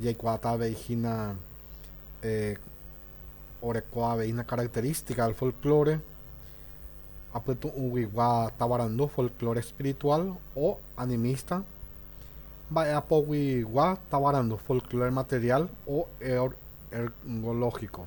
jaikuaáta avei hína oreko avei hína característica del folclore apytu'ũguigua tavarandu folclore espiritual o animista, mba'eapoguigua tavarandu folclore material o ergológico.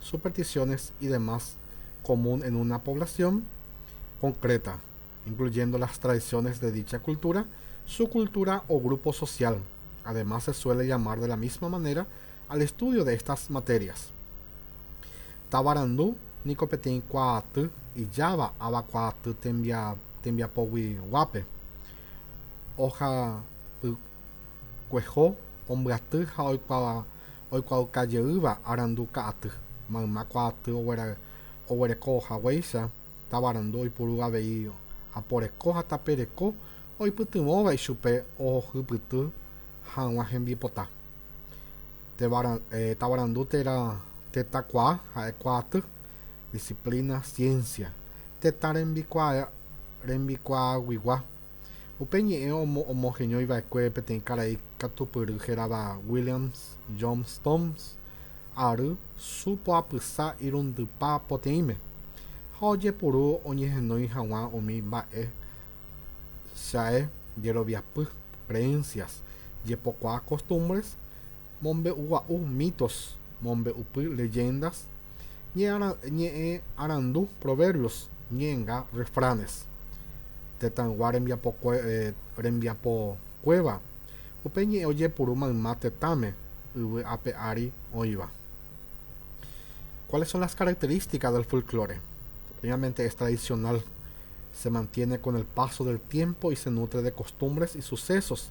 supersticiones y demás común en una población concreta, incluyendo las tradiciones de dicha cultura, subcultura o grupo social. Además se suele llamar de la misma manera al estudio de estas materias. Tavarandu niko peteĩ kuaaty ijáva ava kuaaty tembiapoguiguápe, ohapykueho, ombyaty ha oikuaa oikuaaukajeýva arandu ka'aty, mayma kuaaty oguerekoohaguéicha tavarandu oipuru avei aporeko ha tapereko oipytyvõva ichupe ohohypyty hag̃ua hembipota. Tavarandu térã tetãkuaa ha'e kuaaty, disciplina, ciencia, tetã rembikuaaguyguá. Upe ñe'ẽ omoheñói va'ekue peteĩ karai katupyry hérava Williams Johnstone's ary su poapysa irundypa poteĩme, ha ojepuru oñehenói haguã umi mba'e Chae jeroviapy, creencias, jepokuaa costumbres, Mombe'ugua'u mitos, mombe'upy leyendas, ñe'ẽ arandu proverbios, ñe'ẽnga refranes. Tetãygua rembiapokuéva, upe ñe'ẽ ojepuru mayma tetãme, yvy ape ári oĩva. Cuáles son las características del folklore? Primeramente es tradicional, se mantiene con el paso del tiempo y se nutre de costumbres y sucesos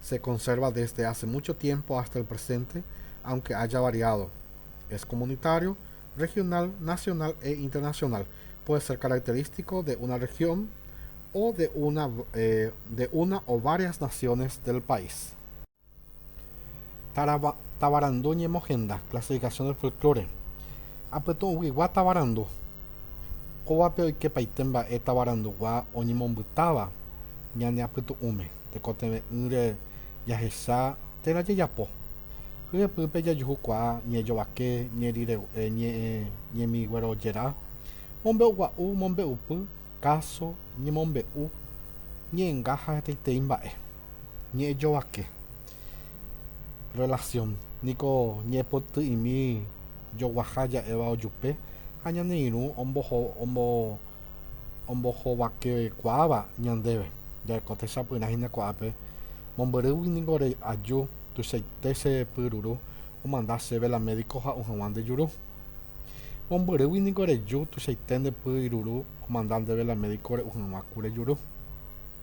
Se conserva desde hace mucho tiempo hasta el presente, aunque haya variado. Es comunitario, regional, nacional e internacional. Puede ser característico de una región o de una de una o varias naciones del país. Tavarandu ñemohenda, clasificación del folklore. Apytu'ũguigua tavarandu. Kóvape oikepaite mba'e tavarandu gua oñemombytáva ñane apytu'ũme. tekotevẽ'ỹre jahecha térã jajapo. Hyepýpe jajuhukuaa ñejovake, ñeriregu'e, ñe'ẽ, ñemiguerojera, mombe'ugua'u, mombe'upy, káso, ñemombe'u, ñe'ẽnga ha hetaitei mba'e. Ñe'ẽjovake, rrelasión, niko ñe'ẽpoty'imi joguaha ja'éva ojupe ha ñane irũ ombohováva. ombohovakekuaáva ñandéve, ja'éko techapyrã hína kuaápe, mombyrýgui ningo re'aju tuichaite che pyruru omanda chéve la médico ha'u hag̃ua nde juru. Mombyrýgui ningo reju tuichaite nde pyruru omanda ndéve la médico re'u hag̃ua ku rejuru.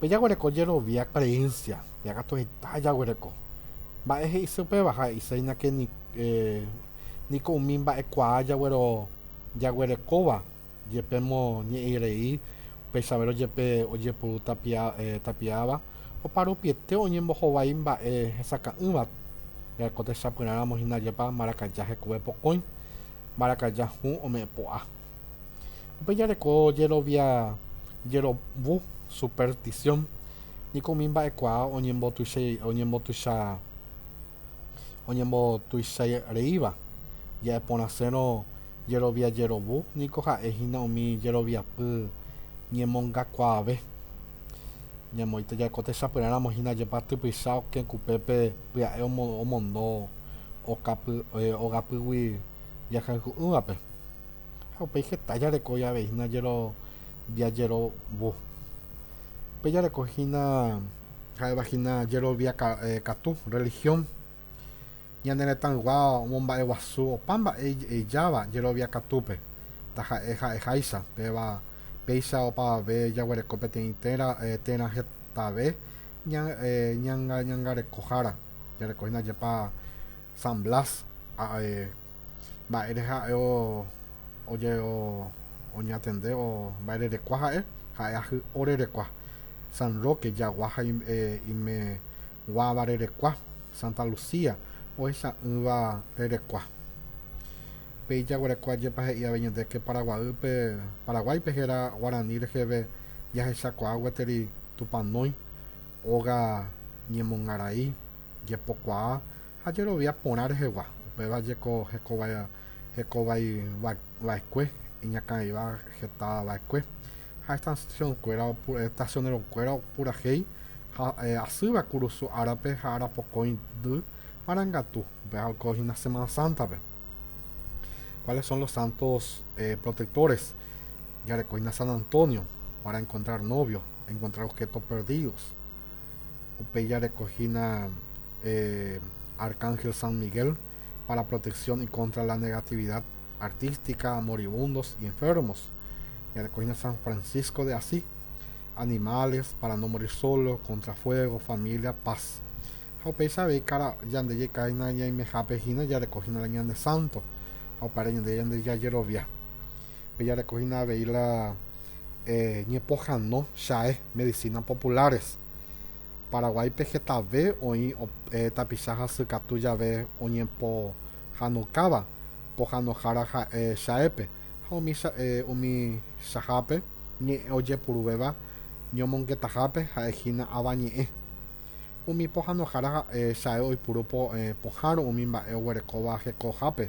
Pejaguereko jerovia creencia, peakatu heta jaguereko. Mba'e he'ise upéva? Ha he'iséina ke niko umi mba'ekuaa jaguerekóva jepe moñe'ẽi rei upéichavérõ jepe ojepuru tapiáva oparupiete oñembohovái mba'e hesakã'ỹva jareko techapyrãramo hína jepa marakaja hekove pokõi, marakaja hũ ome'ẽpo'a. Upéi jareko jerovia jerovu, superstición, niko umi mba'ekuaa oñembotuicha oñembotuichareíva. Ja'eporãsérõ jerovia jerovu niko ha'e hína umi jeroviapy ñemongakuaave. Ñamoĩta ja'e ko techapyrã ramo hína jepa typycha okẽ kupépe pya'e omondo ogapýgui jakayku'ỹvape, ha upéi heta jarekói avei hína jajerovo. Upéi jareko hína ha'éva hína jerovia katu, rrelihión. Ñane retãygua omomba'eguasu opa mba'e ije'eijáva jerovia katúpe, taha'e ha'eháicha, péva péicha opavave jaguereko peteĩ térã térã hetave ñangarekohára, jareko hína jepa. San Blas ha'e mba'ére ha'e oñatende o mba'ererekua ha'e, ha'e ajy orerekua, San Roque jagua ha imeguãva rerekua, Santa Lucía ohecha'ỹva rerekua. Pe ijaguerekua jepa he'i avei ñande ke Paraguaýpe, Paraguáipe héra guarani reheve jahechakuaa gueteri Tupanói, óga ñemongarai, jepokuaa ha jerovia porã rehegua, upéva jeko hekovai vaekue, iñakãiva heta vaekue ha estacionero kuéra opurahéi ha asýva kurusu árape ha arapokõi y marangatu, upéva oiko hína Semana Santa-pe, cuáles son los santos protectores, jareko hína San Antonio para encontrar novio, encontrar objetos perdidos. Upéi jarekohína Arcángel San Miguel para protección y contra la negatividad artística, moribundos y enfermos. Jarekohína San Francisco de Asís, animales, para no morir solo, contra fuego, familia, paz. Ha upéicha avei kára yande jaikáhina ñaimehápe hína jarekohína la ñane santo ha upévare ñande jajerovia. Pejarekohína avei la ñepohano Chae Medicina Populares. Paraguáipe hetave oĩ tapicha hasy katu jave oñepohanokáva pohanohára ha'e Chaépe ha umi Chae umi Chahápe Ñe'ẽ ojepuruvéva ñomongetahápe ha'e hína Avañe'ẽ. Umi pohanohára ha'e Chae oipuru pohãrõ umi mba'e oguerekóva hekohápe.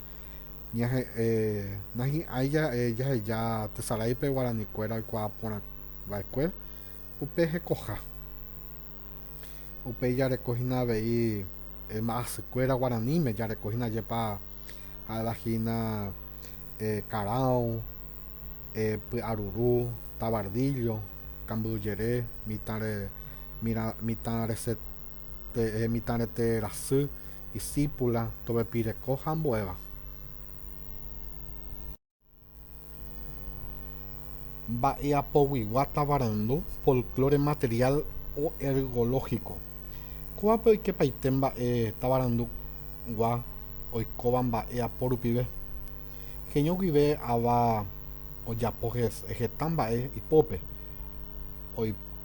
ñahe'ẽ nahi'ãi jaheja tesaráipe guaranikuéra oikuaa porã va'ekue upe hekoha. Upéi jareko hína avei mba'asykuéra guaraníme, jareko hína jepa ha'éva hína karão, py'aruru, tavardíllo, kambyjere, mitãre, mitãrese, Peẽ mitãrete rasy, isípula, tovepireko ha ambuéva. Mba'eapoguigua tavarandu, folklore material o ergológico. Kóvape oikepaite mba'e tavarandugua oikóva mba'eapo rupive. Heño guive ava ojapo heta mba'e ipópe.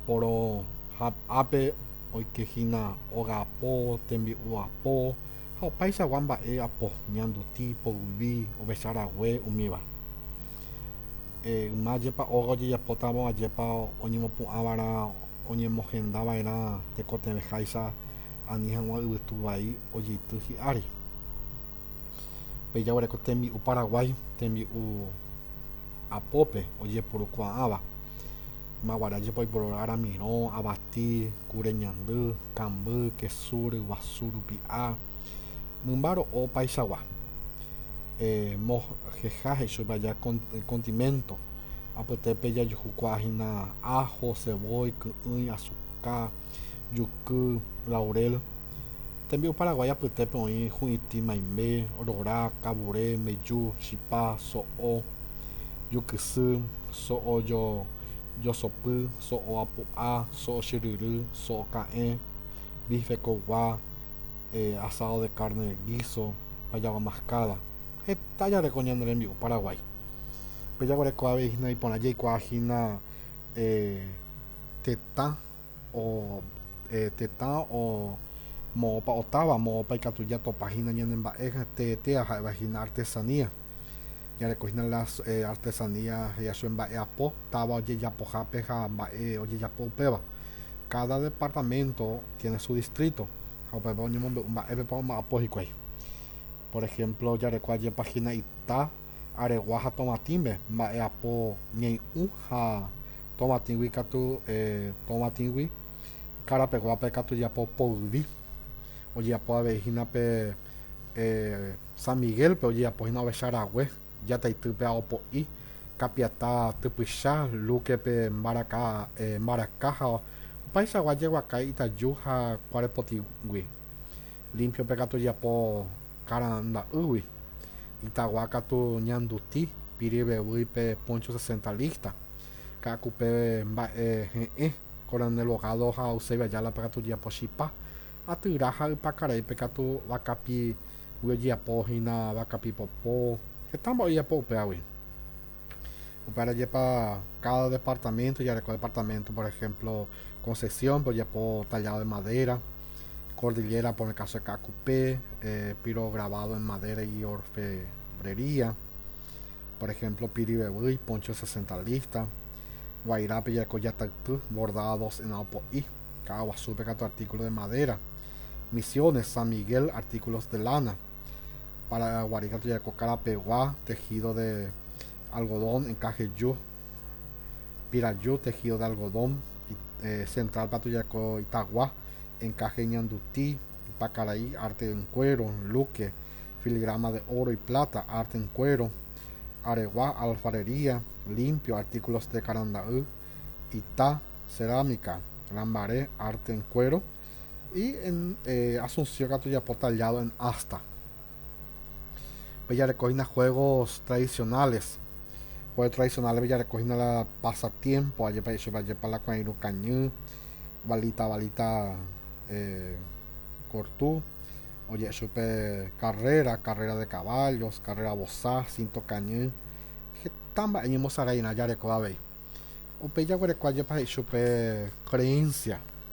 porohap'ápe oikehína ogapo, tembi'u apo ha opaichagua mba'e apo, ñanduti, poyvi, ovecha rague, umíva. Yma jepa óga ojejapótamo ajépa oñemopu'ãva'erã oñemohendava'erã tekotevẽháicha ani hag̃ua yvytu vai ojeity hi'ári. Pe jaguereko tembi'u paraguái, tembi'u apópe ojepurukuaáva, ymaguara jepa oiporora ramirõ, avati, kure ñandy, kamby, kesu, ryguasu, rupi'a, mymba ro'o opaichagua, moheja he'íchapa aja kondiménto, apytépe jajuhukuaa hína áho, cevói, ky'ỹi, asuka, juky, laurel. Tembi'u paraguái apytépe oĩ hu'itĩ maimbe, rora, kavure, mbeju, chipa, so'o, jukysy, so'o josopy, so'o apu'a, so'o chyryry, so'o ka'ẽ, bife koygua, asado de carne de guiso, payagua mascada. Heta jareko ñane rembi'u paraguái. Pe jaguereko avei hína iporã jaikuaa hína tetã o e tetã o moõpa o táva, moõpa ikatu ja topa hína ñane mba'e te etea ha'eva hína artesanía. Ja reko hína las e artesanía ja sue mba'e apo táva oje japo jápe ha mba'e oje japo upéva. Káda departamento tiene su distrito ha upépe oñemombe'u mba'épepa oma'apo hikuái. Por ejemplo ja reko ajépa hína ita. aregua ha tovatĩme, mba'eapo ñei'ũ ha tovatĩgui katu tovatĩgui, karapeguápe katu ojeapo poyvi, ojeapo avei hína pe San Miguel-pe ojeapo hína ovecha rague, Jataitýpe ha Opo'i, Kapiatã typycha, Luque-pe mbaraka mbaraka ha opaichagua jeguaka Itaju ha Kuarepotĩgui. Límpio pe katu japo karanda'ýgui, itagua katu ñanduti piri vevýi pe póncho sesenta lísta, ka'aku pe mba'e he'ẽ, koronel bogádo ha Eusebio Ayala pe katu ojejapo chipa, atyra ha ypakarai pe katu vakapigui ojejapo hína vakapi popo, heta mba'e ojejapo upévagui. Upévare jepa káda departaménto jareko departaménto, por ehémplo, Concepción pe ojepo tallado en madera, Cordillera por el caso de Ka'akupe, piro grabado en madera y orfebrería, por ejemplo pirivevýi, poncho sesentalista, Guairape jaiko jatayty, bordados en aopo'i, ka'aguasúpe katu artículo de madera, Misiones, San Miguel, artículos de lana, Paraguari katu jaiko karapegua, tejido de algodón, encaje, ju, Piraju, tejido de algodón, central pa tujako itagua, encaje ñanduti, pa karai, arte en cuero, luque, filigrama de oro y plata, arte en cuero, aregua, alfarería, limpio, artículos de karanda'y, ita, cerámica, lambaré, arte en cuero, y en Asunción katu ojapo tallado en asta. pejarekohína juegos tradicionales, juego tradicionales pejarekohína la pasatiempo ajépa ajépa ajépa la kuã irũ kañy, balita balita kortu, oje'e chupe carrera, carrera de caballos, carrera vosa, cinto kañy, heta mba'e ñemosaráirã jareko avei, upéi jaguereko ajépa he'i chupe creencia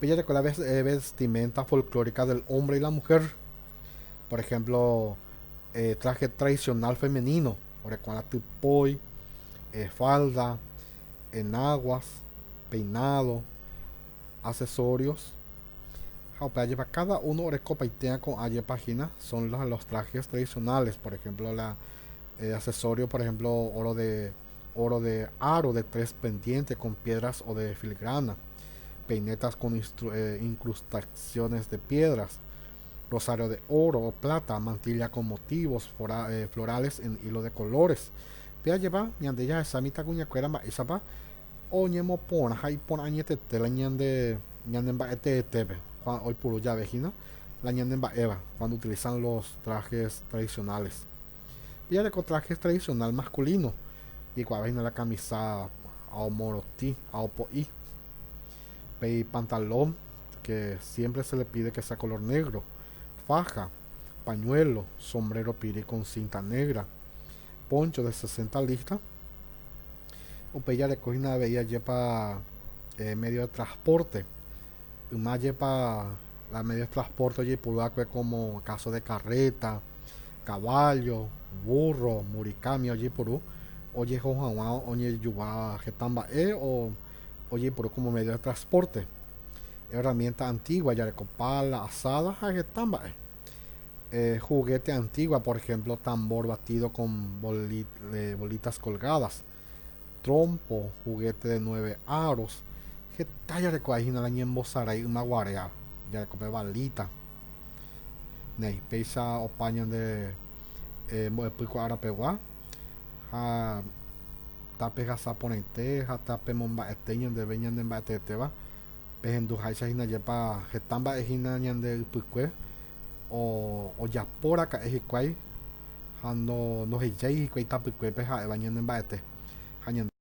Pejareko la vestimenta folclórica del hombre y la mujer, por ejemplo, traje tradicional femenino, orekuarã typói, falda, enaguas, peinado, accesorios, ha upéva jepa cada uno orekopaitérã ko'ã jepa hína, son los trajes tradicionales, por ejemplo, la accesorios, por ejemplo, oro de. óro de áro de tres pendiente kon piédras ode filgrána, peinétas kon inkrustaksiónes de piédras, rosário de óro o pláta, mantilla kon motívos floráles en ílo de kolóres. Pe ajeva, ñande jahasa mitãkuñakuéra mba'éichapa oñemoporã ha iporã añetete la ñande ñanemba'eteetépe, kuándo oipuru jave hína la ñanemba'éva, cuando utilizan los trajes tradicionales. Pejareko trajes tradicional masculino, jeikuaavahína la camisa aomorotĩ, aopo'i, pe ipantalón que siempre se le pide que sea color negro, faja, pañuelo, sombrero piri con cinta negra, poncho de sesenta lista, upéi jarekohína avei ajépa medio de transporte, yma jepa la medio de transporte ojeipuru va'ekue como caso de carreta, Kavállo, vúrro, murikámi ojeporu ojeho hag̃ua oñejuva heta mba'e o ojeporu kómo médio de traspórte. Erramiénta antígua jareko pála, asáda ha heta mba'e. Huguéte antígua, por ehémplo, tambór batido kon bolítas kolgádas. trompo, juguete de nueve aros, heta jarekovai hína la ñembosarái ymaguarea, jareko pe balita, néi, péicha opa ñande mbo'epy ko ára pegua, ha tape hasa porãite ha tape momba'ete ñandeve ñande mba'eteetéva, pehendu háicha hína jepa heta mba'e hína ñande ypykue, ojapo raka'e hikuái, ha nohejái hikuái tapykuépe ha'éva ñanemba'ete ha ñande.